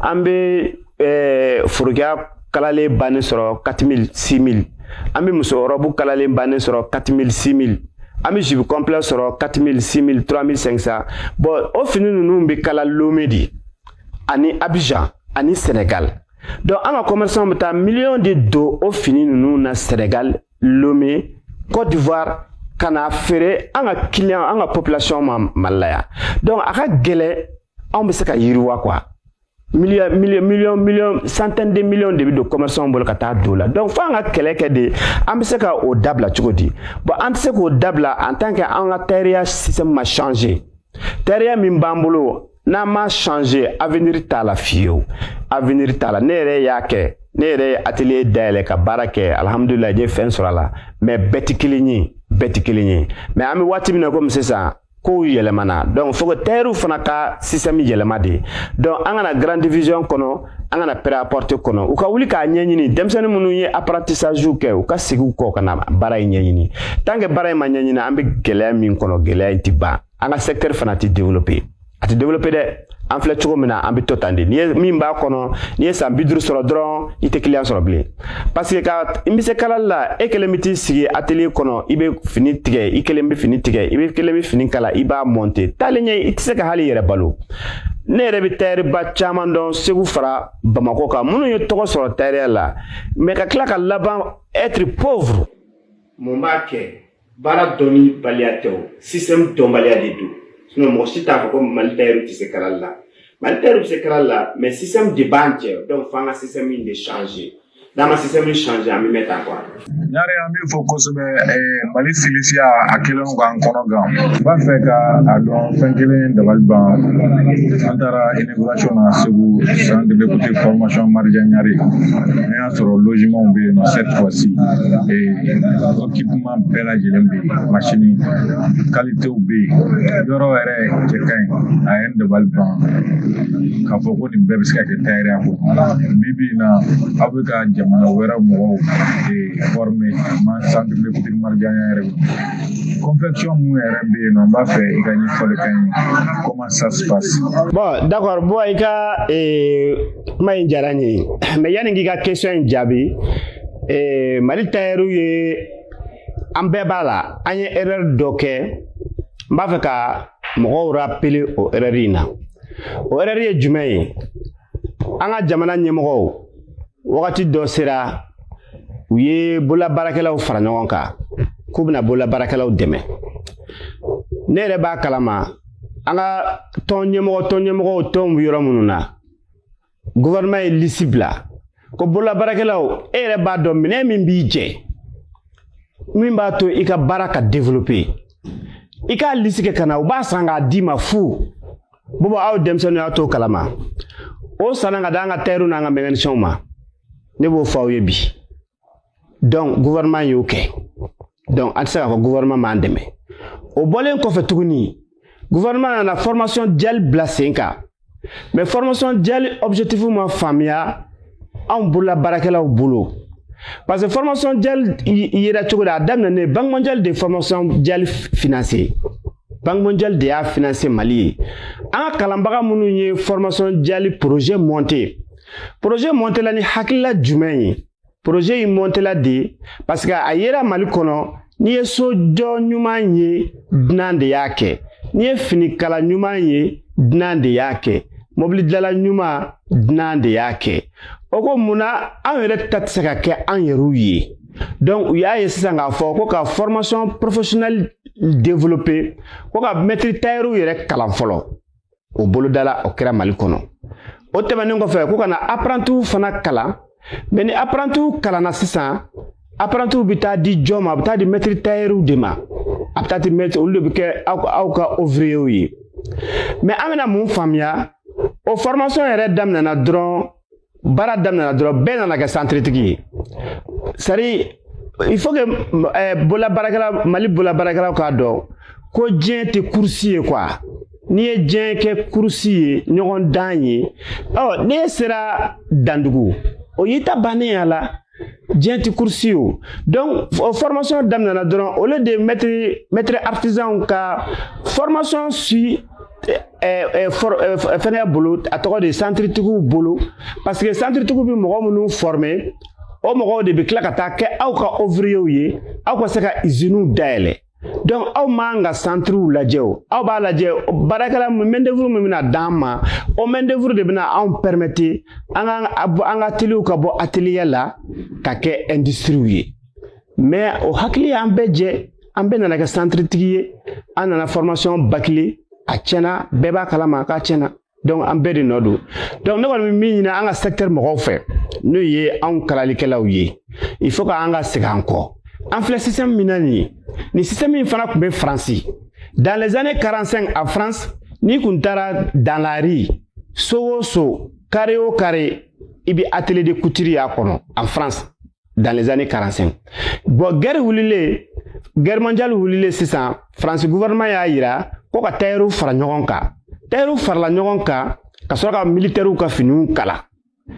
an bɛ eh, forokiya kalalen bannen sɔrɔ 4000 6000 an bɛ muso rɔbu kalalen bannen sɔrɔ 4000 6000 an bɛ jupe complet sɔrɔ 4000 6000 3500 bon o fini ninnu bɛ kala lome de ani abidjan ani senegal donc an ka commerçant bɛ taa miliyɔn de don o fini ninnu na senegal lome cote d'ivoire ka na feere an ka kiliyan an ka population ma mali la yan donc a ka gɛlɛn anw bɛ se ka yiriwa quoi million million million million centaine de millions de bɛ don commerçants bolo ka taa don la donc fo an ka kɛlɛ kɛ de an bɛ se ka o dabila cogo di bon an tɛ se k'o dabila en tant que an ka tayɛriya système ma changer tayɛriya min b'an bolo n'an ma changer avenir t'a la fiyewu avenir t'a la ne yɛrɛ y'a kɛ ne yɛrɛ ye atelier dayɛlɛ ka baara kɛ alihamudulilayi n ye fɛn sɔrɔ a la mɛ bɛɛ tɛ kelen ye bɛɛ tɛ kelen ye mɛ an bɛ waati min na komi sisan kow yɛlɛmana donc faut que tayɛriw fana ka système yɛlɛma de donc an ka na grande division kɔnɔ an ka na prêt-à-porter kɔnɔ u ka wuli k'a ɲɛɲini denmisɛnnin minnu ye apprentissage kɛ u ka segi u kɔ ka na baara in ɲɛɲini tant que baara in ma ɲɛɲini an bɛ gɛlɛya min kɔnɔ gɛlɛya in tɛ ban an ka secteur fana tɛ développer a tɛ développer dɛ an filɛ cogo min na an bɛ to tan de n'i ye min b'a kɔnɔ n'i ye san bi duuru sɔrɔ dɔrɔn i tɛ kiliyan sɔrɔ bilen paseke k'an bɛ se kalali la e kelen bɛ t'i sigi atelier kɔnɔ i bɛ fini tigɛ i kelen bɛ fini tigɛ i bɛ kelen bɛ fini kala i b'a monter taalen ɲɛ i tɛ se ka hali i yɛrɛ balo ne yɛrɛ bɛ tayɛriba caman dɔn segu fara bamakɔ kan minnu ye tɔgɔ sɔrɔ tayɛriya la mɛ ka tila ka laban être pauvre mun b'a kɛ baara dɔnnibaliya tɛ o système dɔnbaliya de don sinɔn mɔgɔ si t'a fɔ ko mali tayɛri tɛ se kalali la mali tayɛri bɛ se kalali la mɛ système de b'an cɛ dɔnku f'an ka système in de changer n'an ma système in changer an bɛ mɛn tan quoi ɲare an b'i fo kosɛbɛ mali silisiya a kɛlen don k'an kɔnɔ gan n b'a fɛ ka a dɔn fɛn kelen dabali ban an taara inauguration na segu centre de couture formation marija ɲare Ka sɔrɔ logements be yen nɔ cette fois ci ee equipement bɛɛ lajɛlen be yen machine qualités be yen yɔrɔ yɛrɛ cɛ ka ɲi a ye n dabali ban k'a fɔ ko nin bɛɛ be se ka kɛ tayɛriya ko bi bi na aw be ka jamana wɛrɛ mɔgɔw former mais centre de couture marija ɲare confection mun yɛrɛ be yen nɔ n b'a fɛ i ka ɲɛfɔli k'an ye comment ça se passe bon d'accord bon i ka kuma in diyara n ye mɛ yanni n k'i ka question in jaabi eh, mali tayɛriw ye an bɛɛ b'a la an ye erɛri dɔ kɛ n b'a fɛ ka mɔgɔw rapele o erɛri in na o erɛri ye jumɛn ye an ka jamana ɲɛmɔgɔw wagati dɔ sera u ye bololabaarakɛlaw fara ɲɔgɔn kan k'u bɛna bololabaarakɛlaw dɛmɛ ne yɛrɛ b'a kalama an ka tɔn ɲɛmɔgɔ tɔn ɲɛmɔgɔw tɔnw bɛ yɔrɔ minnu na gouvernement ye lisi bila ko bololabaarakɛlaw e yɛrɛ b'a dɔn minɛn min b'i jɛ min b'a to i ka baara ka développer i k'a lisi kɛ ka na u b'a san k'a d'i ma fu bɔbɔ aw denmisɛnninw yan t'o kalama o sanna k'a d'an ka tayɛriw n'an ka mɛkanisɛnw ma ne b'o fɔ aw ye bi donc gouvernement y'o kɛ donc an tɛ se k'a fɔ gouvernement m'an dɛmɛ o bɔlen kɔfɛ tuguni gouvernement nana formation duale bila sen kan mais formation duale objectif ma faamuya anw bolola baarakɛlaw bolo parce que formation duale yera cogo di a daminɛnen banque mondiale de formation duale financer banque mondiale de y'a financer mali ye an ka kalanbaga minnu ye formation duale projet monter poroze mɔntela ni hakilila jumɛn ye poroze in mɔntela de parce que a yera mali kɔnɔ n'i ye so jɔ ɲuman ye dunan de y'a kɛ n'i ye finikala ɲuman ye dunan de y'a kɛ mɔbili dilala ɲuman dunan de y'a kɛ o ko mun na anw yɛrɛ ta tɛ se ka kɛ an yɛrɛw ye donc u y'a ye sisan k'a fɔ ko ka formation professionnelle développer ko ka mɛtiri tayɛriw yɛrɛ kalan fɔlɔ o bolodala o kɛra mali kɔnɔ o tɛmɛnen kɔfɛ ko ka na aprantiw fana kalan mɛ ni aprantiw kalanna sisan aprantiw bɛ taa di jɔn ma a bɛ taa di mɛtiri tayɛriw de ma a bɛ taa di mɛtiri olu de bɛ kɛ aw ka ovriyew ye mɛ an bɛna mun faamuya o fɔrmasɔn yɛrɛ daminɛna dɔrɔn baara daminɛna dɔrɔn bɛɛ nana kɛ santiritigi ye c'est-à-dire il faut que eh, bola baarakɛla mali bola baarakɛlaw k'a dɔn ko diɲɛ tɛ kurusi ye quoi n'i ye diɲɛ kɛ kurusi ye ɲɔgɔndan ye ɔ n'e sera dandugu o y'i ta bannen y'a la diɲɛ ti kursi o donc formation daminɛna dɔrɔn au lieu de mɛtiri mɛtiri artisanw ka formation suivre fɛngɛ bolo a tɔgɔ de santiritigiw bolo parce que santiritigiw bɛ mɔgɔ minnu former o mɔgɔw de bɛ tila ka taa kɛ aw ka ouvriers ye aw ka se ka iziniw dayɛlɛ donc aw m'an ka santiriw lajɛ o aw b'a lajɛ baarakɛla mɛndevuru min bɛna d'an ma o mɛndevuru de bɛna anw pɛrɛmɛte an ka ateliyew ka bɔ ateliye la ka kɛ ɛndisitiriw ye mɛ o hakili y'an bɛɛ jɛ an bɛɛ nana kɛ santiritigi ye an nana fɔrmasiyɔn bakile a tiɲɛna bɛɛ b'a kalama k'a tiɲɛna donc an bɛɛ de nɔ don donc ne kɔni bɛ min ɲini an ka secteur mɔgɔw fɛ n'o ye anw kalalikɛlaw ye il faut que an ka segin an kɔ an filɛ système min na nin ye nin système in fana tun bɛ faransi dans les années 45 en france n'i kun taara dans la rue so o so carré o carré i bɛ atelier de couture y'a kɔnɔ en france dans les années 45 bon guerre wulilen guerre mondiale wulilen sisan France gouvernement y'a yira ko ka tailleur fara ɲɔgɔn kan tailleur farala ɲɔgɔn kan ka sɔrɔ ka militaires ka finiw kala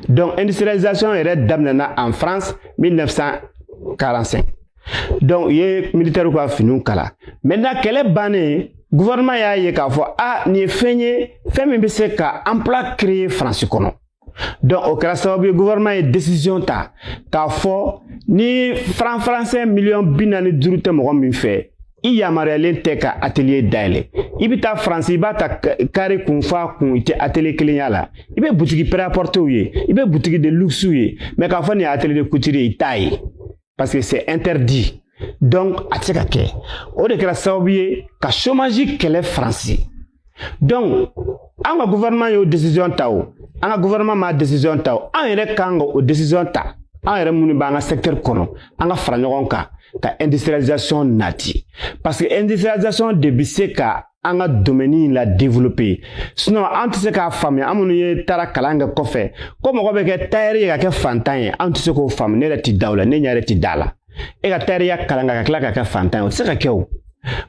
donc industrialisation yɛrɛ daminɛna en France 1945 donc u ye militaires ka finiw kala maintenant kɛlɛ bannen gouvernement y'a ye k'a fɔ a ah, nin ye fɛn ye fɛn min bɛ se ka emploi créer France kɔnɔ donc o kɛra sababu ye gouvernement ye décision ta k'a fɔ ni franc français miliyɔn bi naani duuru tɛ mɔgɔ min fɛ i yamaruyalen tɛ ka atelier dayɛlɛ i bɛ taa faransi i b'a ta carré kun f'a kun i tɛ atelier kelen y'a la i bɛ butigi prêt à porter ye i bɛ butigi de luxe ye mais k'a fɔ nin ye atelier de couture ye i t'a ye. parce que c'est interdit donc a tɛ se ka kɛ o de kɛra sababu ye ka chômage kɛlɛ faransi donc an ka gouvernement y'o décision ta o an ka gouvernement ma décision ta o an yɛrɛ kan ka o décision ta an yɛrɛ minnu b'an ka secteur kɔnɔ an ka fara ɲɔgɔn kan ka industrialisation nati parce que industrialisation de bɛ se ka an ka domaine la développer sinon an tɛ se k'a faamuya an minnu ye taara kalan kɛ kɔfɛ ko mɔgɔ bɛ kɛ tailleur ye ka kɛ fantan ye an tɛ se k'o faamu ne yɛrɛ ti da o la ne ɲɛ yɛrɛ ti da a la e ka tayɛriya kalan ka tila ka kɛ fantan ye o tɛ se ka kɛ o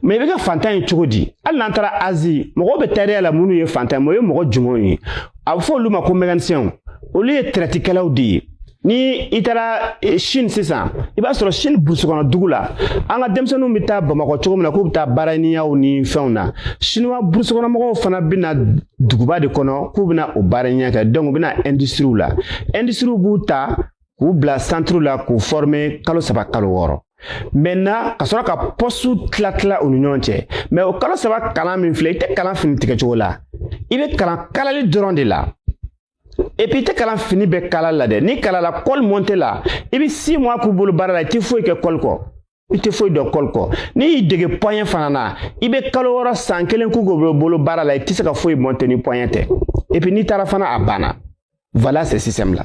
mais i bɛ kɛ fantan ye cogo di hali n'an taara Asie mɔgɔw bɛ tayɛriya la minnu ye fantan ye o ye mɔgɔ jumɛnw ye a bɛ fɔ olu ma ko mécaniciens olu ye tɛrɛtikɛlaw de ye ni i taara eh, chine sisan i b'a sɔrɔ chine burusi kɔnɔ dugu la an ka denmisɛnninw bɛ taa bamakɔ cogo min na k'u bɛ taa baaraniyaw ni fɛnw na chinois burusi kɔnɔ mɔgɔw fana bɛ na duguba de kɔnɔ k'u bɛna o baaraniya kɛ donc u bɛ na industries la industries b'u ta k'u bila centre la k'u former kalo saba kalo wɔɔrɔ maintenant ka sɔrɔ ka postes tila tila u ni ɲɔgɔn cɛ mais o kalo saba kalan min filɛ i tɛ kalan fini tigɛcogo la i bɛ kalan kalali dɔrɔn de la et puis i tɛ kalan fini bɛɛ kala la dɛ n'i kalala col monter la i bɛ six mois k'u bolo baara la i tɛ foyi kɛ col kɔ i tɛ foyi dɔn col kɔ n'i y'i dege poignet fana na i bɛ kalo wɔɔrɔ san kelen k'u k'u bolo baara la i tɛ se ka foyi monter ni poignet tɛ et puis n'i taara fana a banna voilà ce système là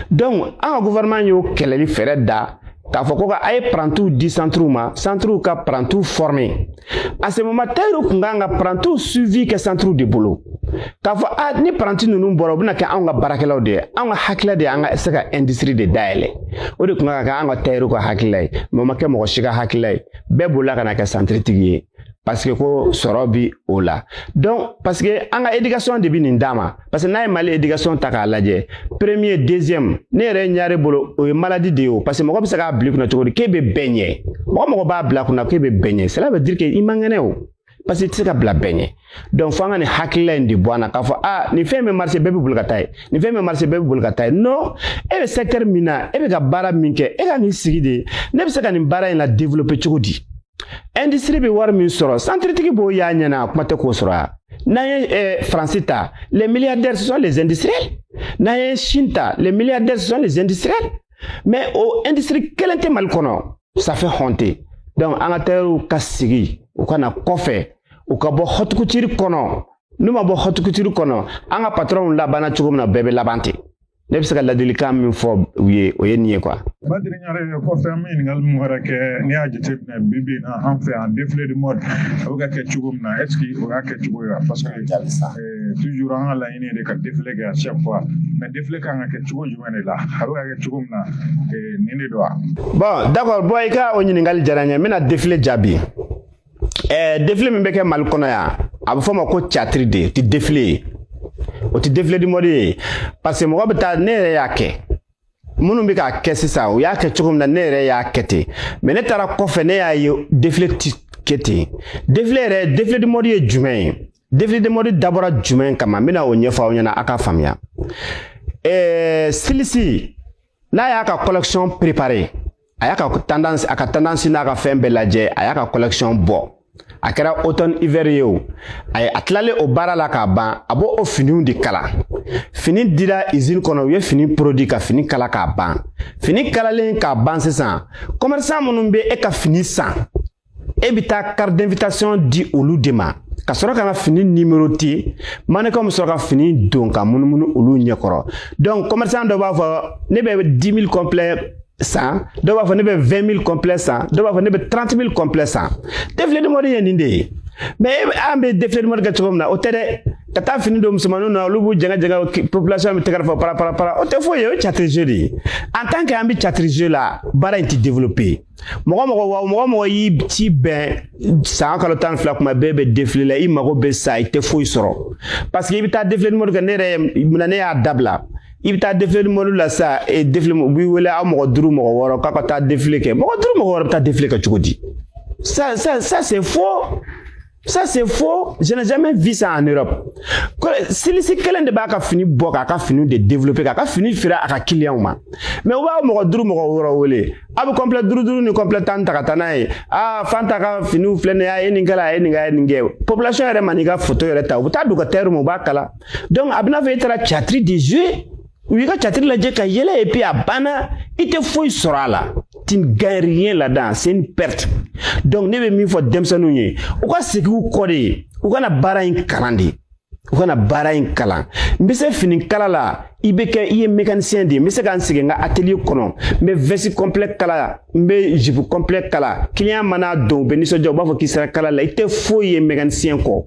donc an ka gouvernement y'o kɛlɛli fɛɛrɛ da k'a fɔ ko ka a ye parantiw di centres ma centres ka parantiw former à ce moment tailleurs kun kan ka parantiw suivi kɛ centres de bolo k'a fɔ a ni paranti ninnu bɔra u bɛna kɛ anw ka baarakɛlaw de ye anw ka hakilila de ye an ka se ka industrie de dayɛlɛ o de kun kan ka kɛ an ka tailleurs ka hakilila ye mais o ma kɛ mɔgɔ si ka hakilila ye bɛɛ bolila ka na kɛ centre tigi ye parce que ko sɔrɔ bi o la donc parce que an ka éducation de bi nin d'an ma parce que n'a ye mali éducation ta k'a lajɛ premier deuxième ne yɛrɛ ɲare bolo o ye maladie de ye o parce que mɔgɔ bɛ se k'a bila i kunna cogo di k'e bɛ bɛɛ ɲɛ mɔgɔ mɔgɔ b'a bila kunna k'e bɛ bɛɛ ɲɛ cela veut dire que i man kɛnɛ o parce que i tɛ se ka bila bɛɛ ɲɛ donc fo an ka nin hakilila in de bɔ an na k'a fɔ aa nin fɛn bɛ marché bɛɛ bɛ boli ka taa ye nin fɛn bɛ marché bɛɛ bɛ boli ka taa ye non e bɛ secteur min na e bɛ ka baara min kɛ e ka nin sigi de ne bɛ se ka nin baara in la développer cogo di industrie bɛ wari min sɔrɔ centre tigi b'o y'a ɲɛna a kuma tɛ k'o sɔrɔ yan n'an ye eh, faransi ta les milliardaires ce sont les industriels n'an ye chine ta les milliardaires ce sont les industriels mais o industrie kelen tɛ mali kɔnɔ ça fait honte donc an ka tailleur ka sigi u ka na kɔfɛ u ka bɔ haute couture kɔnɔ n'u ma bɔ haute couture kɔnɔ an ka patronw labanna cogo min na bɛɛ bɛ laban ten ne bɛ se ka ladilikan min fɔ u ye o ye nin ye quoi. badiri ɲare kɔfɛ an bɛ ɲininkali min wɛrɛ kɛ n'i y'a jateminɛ bi bi in na an fɛ yan défilé de mode a bɛ ka kɛ cogo min na est-ce que o y'a kɛcogo ye wa parce que toujours an ka laɲini de ka défilé kɛ à chaque fois mais défilé kan ka kɛ cogo jumɛn de la a bɛ ka kɛ cogo min na nin de don wa bon d'accord bon i ka o ɲininkali diyara n ye n bɛna défilé jaabi ɛɛ défilé min bɛ kɛ mali kɔnɔ yan a bɛ fɔ o ma ko théâtre de ti défilé ye o ti défilé de mode ye parce que mɔgɔ bɛ taa ne yɛrɛ y'a kɛ minnu bɛ k'a kɛ sisan u y'a kɛ cogo min na ne yɛrɛ y'a kɛ ten mais ne taara kɔfɛ ne y'a ye défilé ti kɛ ten défilé yɛrɛ défilé de mode ye jumɛn ye Défilé de mode dabɔra jumɛn kama n bɛna o ɲɛfɔ aw ɲɛna a ka faamuya ɛɛ eh, styliste n'a y'a ka collection préparer a y'a ka tendance a ka tendance n'a ka fɛn bɛɛ lajɛ a y'a ka collection bɔ a kɛra automne hiver ye o a ye a tilalen o baara la k'a ban a b'o finiw de kala fini dira usine kɔnɔ u ye fini produit ka fini kala k'a ban fini kalalen k'a ban sisan commerçant minnu bɛ e ka fini san e bɛ taa carte d'invitation di olu de ma ka sɔrɔ ka na fini numéroter mannequinw bɛ sɔrɔ ka fini don ka munumunu olu ɲɛkɔrɔ donc commerçant dɔ b'a fɔ ne bɛ 10 000 complet san dɔw b'a fɔ ne bɛ 20 000 complet san dɔw b'a fɔ ne bɛ 30 000 complet san défilé de mode ye nin de ye mais an bɛ défilé de mode kɛ cogo min na o tɛ dɛ ka taa fini don musomaninw na olu b'u jɛngɛ jɛngɛ population bɛ tɛgɛrɛ fɔ para para para o tɛ foyi ye o ye théâtre jeu de ye en tant que an bɛ théâtre jeu la baara in tɛ développer mɔgɔ mɔgɔ o mɔgɔ mɔgɔ y'i ci bɛn san kalo tan ni fila kuma bɛɛ bɛ défilé la i mago bɛ sa i tɛ foyi sɔrɔ parce que i bɛ taa défilé de mode kɛ ne yɛrɛ muna ne y'a dabila i bɛ taa défilé de mode la sa e défilé u b'i wele aw mɔgɔ duuru mɔgɔ wɔɔrɔ k'a ka taa défilé kɛ mɔgɔ duuru mɔgɔ wɔɔrɔ bɛ taa défilé kɛ cogo di ça ça ça c'est faux Ça c'est faux, je n'ai jamais vu ça en Europe. Styliste kelen de b'a ka fini bɔ k'a ka fini de développer k'a ka fini feere a ka clients ma. Mais u b'a mɔgɔ duuru mɔgɔ wɔɔrɔ wele. A bɛ complet duuru duuru ni complet tan ta ka taa n'a ye. Aa Fanta ka finiw filɛ nin ye a ye nin kɛ a ye nin kɛ a ye nin kɛ. Population yɛrɛ man'i ka photo yɛrɛ ta u bɛ taa d'u ka tailleur ma u b'a kala. Donc a bɛna fɔ e taara théâtre de jouer u y'i ka catiri lajɛ ka yɛlɛ et puis a banna i tɛ foyi sɔrɔ a la tu gagnes rien là-dedans c'est une perte donc ne bɛ min fɔ denmisɛnninw ye u ka segin u kɔ de u ka na baara in kalan de u ka na baara in kalan n bɛ se fini kala la i bɛ kɛ i ye mécanicien de ye n bɛ se ka n sigi n ka atelier kɔnɔ n bɛ veste complet kala n bɛ jupe complet kala client mana don u bɛ nisɔndiya u b'a fɔ k'i sera kala la i tɛ foyi ye mécanicien kɔ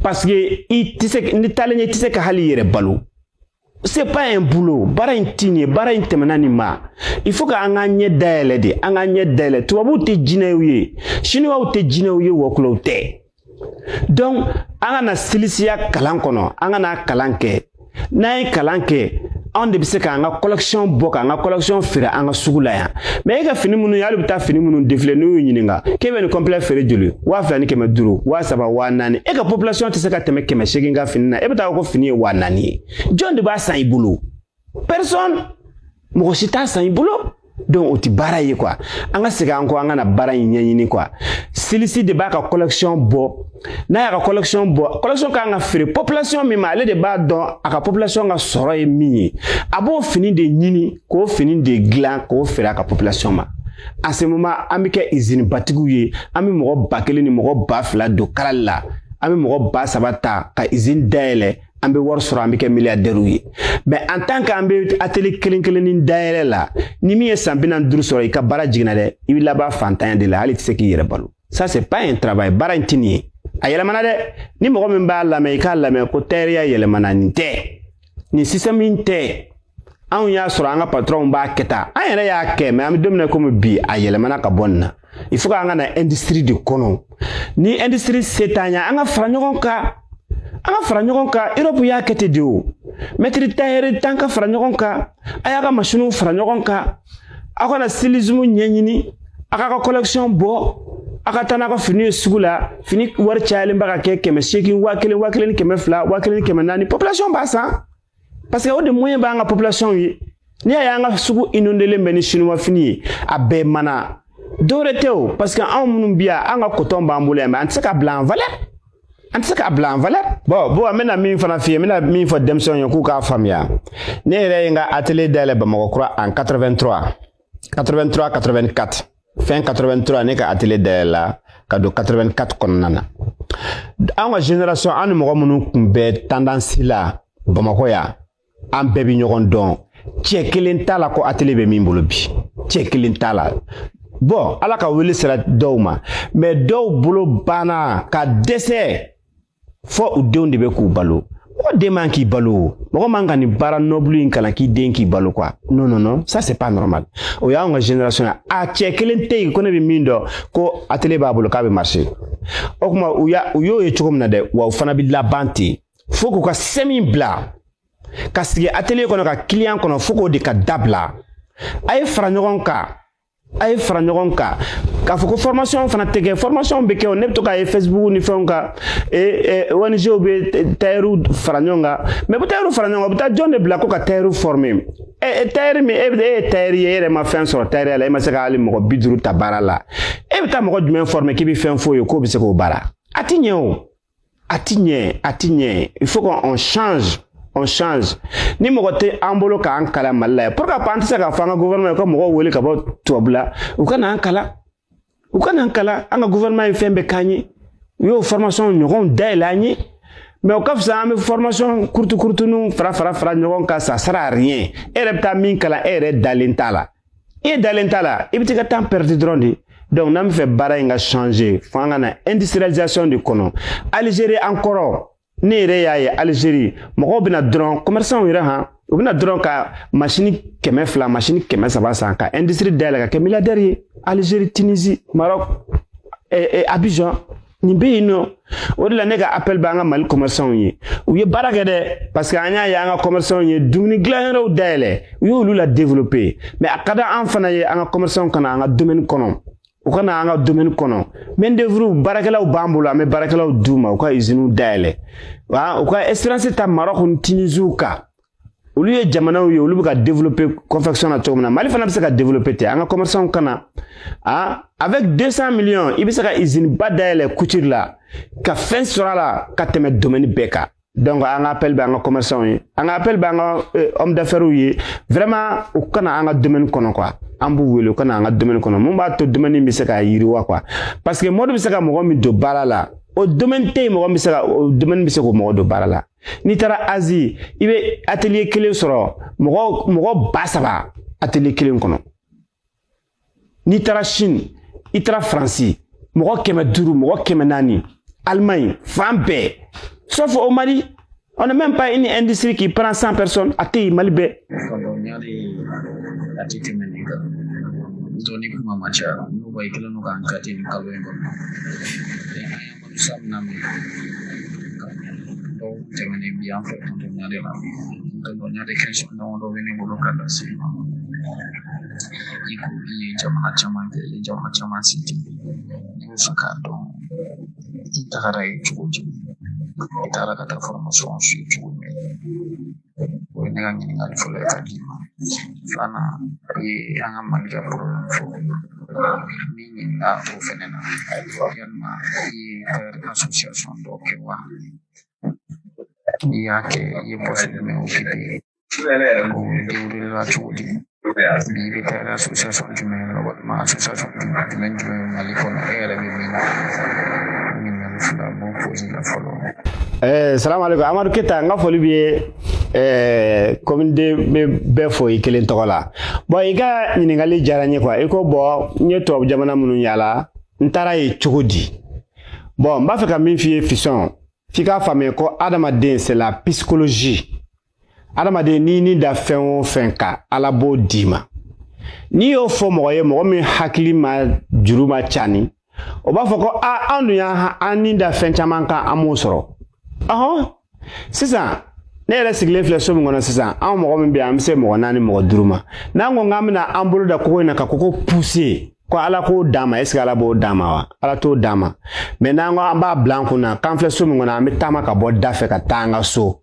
parce que i tɛ se n'i taalen ɲɛ i tɛ se ka hali i yɛrɛ balo c'est pas un boulot baara in ti nin ye baara in tɛmɛna nin ma il faut ka an k'an ɲɛ dayɛlɛ de an k'an ɲɛ dayɛlɛ tubabuw tɛ jinɛw ye sinuwaw tɛ jinɛw ye wɔkulɔw tɛ donc an ka na silisiya kalan kɔnɔ an ka na kalan kɛ n'an ye kalan kɛ anw de bɛ se k'an ka collection bɔ k'an ka collection feere an ka sugu la yan mais e ka fini minnu ye hali bɛ taa fini minnu défilé n'u y'i ɲininka k'e bɛ nin complet feere joli waa fila ni kɛmɛ duuru waa saba waa naani e ka population tɛ se ka tɛmɛ kɛmɛ seegin ka fini na e bɛ taa ko fini ye waa naani ye jɔn de b'a san i bolo personne mɔgɔ si t'a san i bolo donc o ti baara ye quoi an ka segin an kɔ an ka na baara in ɲɛɲini quoi styliste de b'a ka collection bɔ n'a y'a ka collection bɔ collection kan ka feere population min ma ale de b'a dɔn a ka population ka sɔrɔ ye min ye a b'o fini de ɲini k'o fini de dilan k'o feere a ka population ma en ce moment an bɛ kɛ izini batigiw ye an bɛ mɔgɔ ba kelen ni mɔgɔ ba fila don kalali la an bɛ mɔgɔ ba saba ta ka izini dayɛlɛ an bɛ wari sɔrɔ an bɛ kɛ miliyadɛriw ye mais en tant qu'an bɛ atelier kelen kelennin dayɛlɛ la ni min ye san bi naani duuru sɔrɔ i ka baara jiginna dɛ i bɛ laban fantanya de la hali i tɛ se k'i yɛrɛ balo ça c'est pas un travail baara in tɛ nin ye a yɛlɛmana dɛ ni mɔgɔ min b'a lamɛn i k'a lamɛn ko tayɛriya yɛlɛmana nin tɛ nin système in tɛ anw y'a sɔrɔ an ka patɔrɔnw b'a kɛ tan an yɛrɛ y'a kɛ mais an bɛ don min na komi bi a yɛlɛmana ka bɔ nin na il faut k'an ka na industrie de kɔnɔ ni industrie se t'an ye an ka fara ɲɔgɔn kan an ka fara ɲɔgɔn kan europe y'a kɛ ten de o maître tailleur tan ka fara ɲɔgɔn kan a y'a ka masiniw fara ɲɔgɔn kan aw ka na stylisme ɲɛɲini a k'a ka collection bɔ a ka taa n'a ka fini ye sugu la fini wari cayalenba ka kɛ kɛmɛ seegin waa kelen waa kelen ni kɛmɛ fila waa kelen ni kɛmɛ naani population b'a san parce que o de moyen b'an ka population ye n'i y'a ye an ka sugu inondelen bɛ ni sinuwafini ye a bɛɛ mana dɔwɛrɛ tɛ o parce que anw minnu bi yan an ka coton b'an bolo yan mais an tɛ se k'a bila en valeur an tɛ se k'a bila en valeur bon an bɛna min fana f'i ye n bɛna min fɔ denmisɛnw ye k'u k'a faamuya ne yɛrɛ ye n ka atelier dayɛlɛ bamakɔkura en 83 83 84 fin 83 ne ka atelier dayɛlɛla ka don 84 kɔnɔna na an ka génération an ni mɔgɔ minnu tun bɛ tendance la bamakɔ yan an bɛɛ bɛ ɲɔgɔn dɔn cɛ kelen t'a la ko atelier bɛ min bolo bi cɛ kelen t'a la bon ala ka wele sera dɔw ma mais dɔw bolo banna ka dɛsɛ fo u denw de bɛ k'u balo mɔgɔ den man k'i balo o mɔgɔ man ka nin baara noble in kalan k'i den k'i balo quoi non non non ça c'est pas normal o y'anw ka génération ye a cɛ kelen tɛ yen ko ne bɛ min dɔn ko atelier b'a bolo k'a bɛ marcher o kuma u y'a u y'o ye cogo min na dɛ wa u fana bɛ laban ten fo k'u ka sɛmi bila ka sigi atelier kɔnɔ ka client kɔnɔ fo k'o de ka dabila a ye fara ɲɔgɔn kan a ye fara ɲɔgɔn kan k'a fɔ ko formation fana tɛ kɛ formation bɛ kɛ ne bɛ to k'a ye facebook ni fɛnw kan ONGw bɛ tayɛriw fara ɲɔgɔn kan mais bɛ tayɛriw fara ɲɔgɔn kan u bɛ taa jɔn de bila ko ka tayɛriw former ɛ tayɛri min e bɛ e ye tayɛri ye e yɛrɛ ma fɛn sɔrɔ tayɛriya la e ma se ka hali mɔgɔ bi duuru ta baara la e bɛ taa mɔgɔ jumɛn former k'i bɛ fɛn f'o ye k'o bɛ se k'o baara a ti ɲɛ o A ti ɲɛ, a ti ɲɛ. Il faut qu'on change. On change. Ni mɔgɔ tɛ an bolo k'an kalan Mali la yan. Pourquoi pas an tɛ se k'a fɔ an ka gouvernement ye ko mɔgɔw wele ka bɔ tubabu la u ka n'an kalan. U ka n'an kalan an ka gouvernement ye fɛn bɛɛ k'an ye. U y'o formation ɲɔgɔnw dayɛlɛ an ye. mais o ka fisa an bɛ formation kurutukurutuniw fara fara fara ɲɔgɔn kan ça sert à rien e yɛrɛ bɛ taa min kalan e yɛrɛ dalen t'a la e dalen t'a la i bɛ t'i ka temps perdre dɔrɔn de donc n'an bɛ fɛ baara in ka changer fo an ka na industrialisation de kɔnɔ Algérie an kɔrɔ ne yɛrɛ y'a ye Algérie mɔgɔw bɛ na dɔrɔn commerçants yɛrɛ han u bɛ na dɔrɔn ka masini kɛmɛ fila masini kɛmɛ saba san ka industrie dayɛlɛ ka kɛ milliardaire ye Algérie Tunisie Maroc eh, eh, Abidjan nin bɛ yen nɔ o de la ne ka appel bɛ an ka mali commerçants ye u ye baara kɛ dɛ parce que an y'a ye an ka commerçants ye dumuni dilanyɔrɔw dayɛlɛ u y'olu la développer mais a ka di an fana ye an ka commerçants ka na an ka domaine kɔnɔ u ka na an ka domaine kɔnɔ main d'œuvre baarakɛlaw b'an bolo an bɛ baarakɛlaw d'u ma u ka usines dayɛlɛ wa u ka expérience ta maroc ni tunisiw kan olu ye jamanaw ye olu bɛ ka développer confection na cogo min na mali fana bɛ se ka développer ten an ka commerçants ka na a avec 200 millions i bɛ se ka usine ba dayɛlɛ couture la ka fɛn sɔrɔ a la ka tɛmɛ domaine bɛɛ kan donc an ka appel bɛ an ka commerçants ye an ka appel bɛ an ka euh, homme d'affaires ye vraiment u ka na an ka domaine kɔnɔ quoi an b'u wele u ka na an ka domaine kɔnɔ mun b'a to domaine bɛ se ka yiriwa quoi parce que mode bɛ se ka mɔgɔ min don baara la o domaine tɛ yen mɔgɔ min bɛ se ka o domaine bɛ se k'o mɔgɔ don baara la n'i taara asie i bɛ atelier kelen sɔrɔ mɔgɔ mɔgɔ ba saba atelier kelen kɔnɔ n'i taara chine i taara faransi mɔgɔ kɛmɛ duuru mɔgɔ kɛmɛ naani allemagne fan bɛɛ sauf au mali on n'a même pas une industrie qui prend 100 personnes a tɛ yen mali bɛɛ dɔɔni kuma ma caya n'o ba i kelen don k'an kati nin kalo in kɔnɔ san damadɔw tɛmɛnen bi an fɛ tɔntɔnya de la tɔntɔnya de question dɔ bɛ ne bolo ka lase i ma i ko i ye jamana caman kɛ i ye jamana caman citer ne b'a fɛ k'a dɔn i tagara yen cogo di i taara ka taa fɔrɔmasɔn su cogo min o ye ne ka ɲininkali fɔlɔ ye ka di i ma filanan ye an ka mali ka problème fo ni ñi a o fɛnɛ na yalima i ye ka association dɔ kɛ wa n'i y'a kɛ i ye pɔsi jumɛn okipe o derulela cogo di Bi bɛ taa la association jumɛn ye mɔgɔ ma association jumɛn jumɛn jumɛn ye mali kɔnɔ e yɛrɛ bɛ min na ɲininkali fila b'o pose i la fɔlɔ ɛɛ salamaleko amadu keta n ka foli b'i ye ɛɛ komi ne bɛ bɛɛ fo i kelen tɔgɔ la bɔn i ka ɲininkali diyara n ye kuwa i ko bɔn n ye tubabu jamana minnu yala n taara yen cogo di bɔn n b'a fɛ ka min f'i ye fiston f'i k'a faamuya ko adamaden c'est la psychologie adamaden n'i ni da fɛn o fɛn kan ala b'o d'i ma n'i y'o fɔ mɔgɔ ye mɔgɔ min hakili ma juru ma cani o b'a fɔ ko a an dun y'an ni da fɛn caman kan an m'o sɔrɔ ɔhɔn sisan ne yɛrɛ sigilen filɛ so min kɔnɔ sisan anw mɔgɔ min bɛ yan an bɛ se mɔgɔ naani mɔgɔ duuru ma n'an ko k'an bɛna an bolo da kogo in na ka kogo puse ko ala k'o d'an ma eseke ala b'o d'an ma wa ala t'o d'an ma mɛ n'an ko an b'a bila an kun na k'an filɛ so min kɔnɔ an bɛ taama ka bɔ da fɛ ka taa an ka so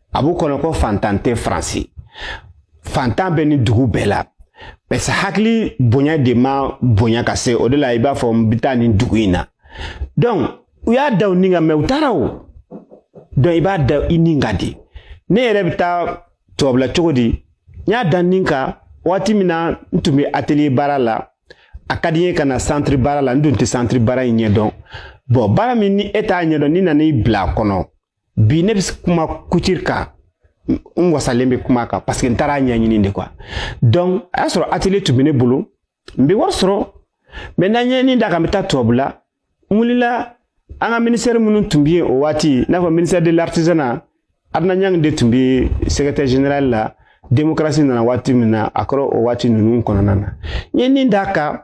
a b'u kɔnɔ ko fantan tɛ faransi fantan bɛ ni dugu bɛɛ la parce que hakili bonya de ma bonya ka se o de la i b'a fɔ n bɛ taa nin dugu in na donc u y'a da u ni kan mɛ u taara o donc i b'a da i ni kan di ne yɛrɛ bɛ taa tubabula cogo di n y'a da n ni kan waati min na n tun bɛ atelier baara la a ka di n ye ka na centre baara la n dun tɛ centre baara in ɲɛdɔn bɔn baara min ni e t'a ɲɛdɔn ni nana i bila a kɔnɔ bi ne bɛ kuma couture kan n wasalen bɛ kuma kan parce que n taara ɲɛɲini de quoi donc a y'a sɔrɔ atelier tun bɛ ne bolo n bɛ wari sɔrɔ mɛ ne n ye n ni d'a kan n bɛ taa tubabula n wulila an ka ministère minnu tun bɛ yen o waati i n'a fɔ ministère de l'artisanat Adna Nyang de tun bɛ secrétaire général la démocratie nana waati min na a kɔrɔ o waati ninnu kɔnɔna na n ye n ni d'a kan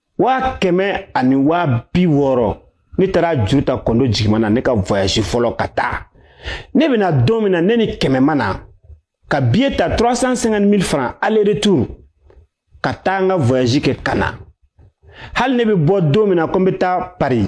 waa kɛmɛ ani waa bi wɔɔrɔ ne taara juru ta kɔndo jigima na ne ka voyage fɔlɔ ka taa ne bɛna don min na ne ni kɛmɛ ma na ka biye ta 350 000 francs aller retour ka taa n ka voyage kɛ ka na hali ne bɛ bɔ don min na ko n bɛ taa paris